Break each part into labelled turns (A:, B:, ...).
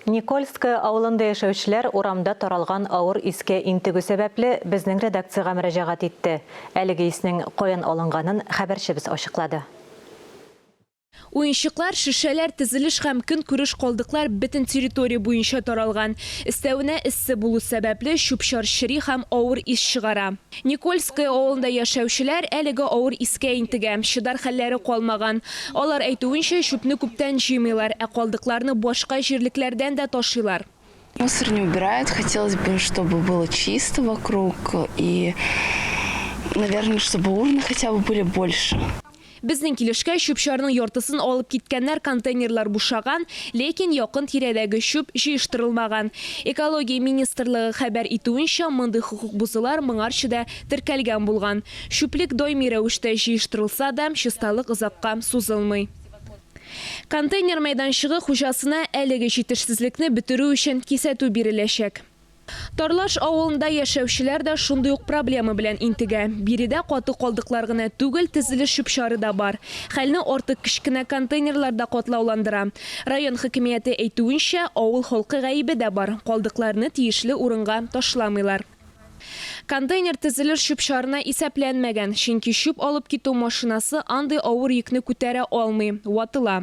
A: Никольское авылында яшәүчеләр урамда таралган авыр искә интегү сәбәпле, безнең редакциягә мөрәҗәгать итте. Әлеге иснең каян алынганын хәбәрчебез ачыклады.
B: Уенчыклар, шешәләр, тезелеш һәм көнкүреш калдыклар бөтен территория буенча таралган. Өстәвенә, эссе булу сәбәпле, чүп-чар чери һәм авыр ис чыгара. Никольское авылында яшәүчеләр әлеге авыр искә интегә. Чыдар хәлләре калмаган. Алар әйтүенчә, чүпне күптән җыймыйлар, ә калдыкларны башка җирлекләрдән дә ташыйлар. Мусор не
C: убирают, хотелось бы чтобы было чисто вокруг и наверное чтобы урны хотя бы были больше. Безнең килешкә,
B: чүп-чарның яртысын алып киткәннәр, контейнерлар бушаган, ләкин якын тирәдәге чүп җыештырылмаган. Экология министрлыгы хәбәр итүенчә, мондый хокук бозулар моңарчы да теркәлгән булган. Чүплек даими рәвештә җыештырылса да, чисталык озакка сузылмый. Контейнер мәйданчыгы хуҗасына әлеге җитешсезлекне бетерү өчен кисәтү биреләчәк. Тарлаш авылында яшәүчеләр дә шундый ук проблема белән интегә. Биредә каты калдыклар гына түгел, тезелеш чүп-чары да бар. Хәлне артык кечкенә контейнерлар да катлауландыра. Район хакимияте әйтүенчә, авыл халкы гаебе дә бар, калдыкларны тиешле урынга ташламыйлар. Контейнер тезелеш чүп-чарына исәпләнмәгән, чөнки чүп алып китү машинасы андый авыр йөкне күтәрә алмый, ватыла.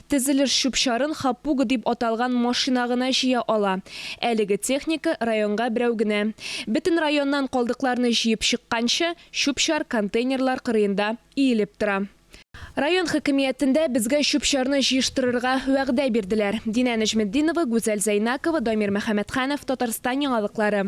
B: Тезелеш чүп-чарын хапуга дип аталган машина гына җыя ала. Әлеге техника районга берәү генә. Бөтен районнан калдыкларны җыеп чыкканчы, чүп-чар контейнерлар кырыенда иелеп тора. Район хакимиятендә безгә чүп-чарны җыештырырга вәгъдә бирделәр. Динә Нәҗметдинова, Гүзәл Зәйнакова, Дамир Мөхәммәтханов, Татарстан яңалыклары.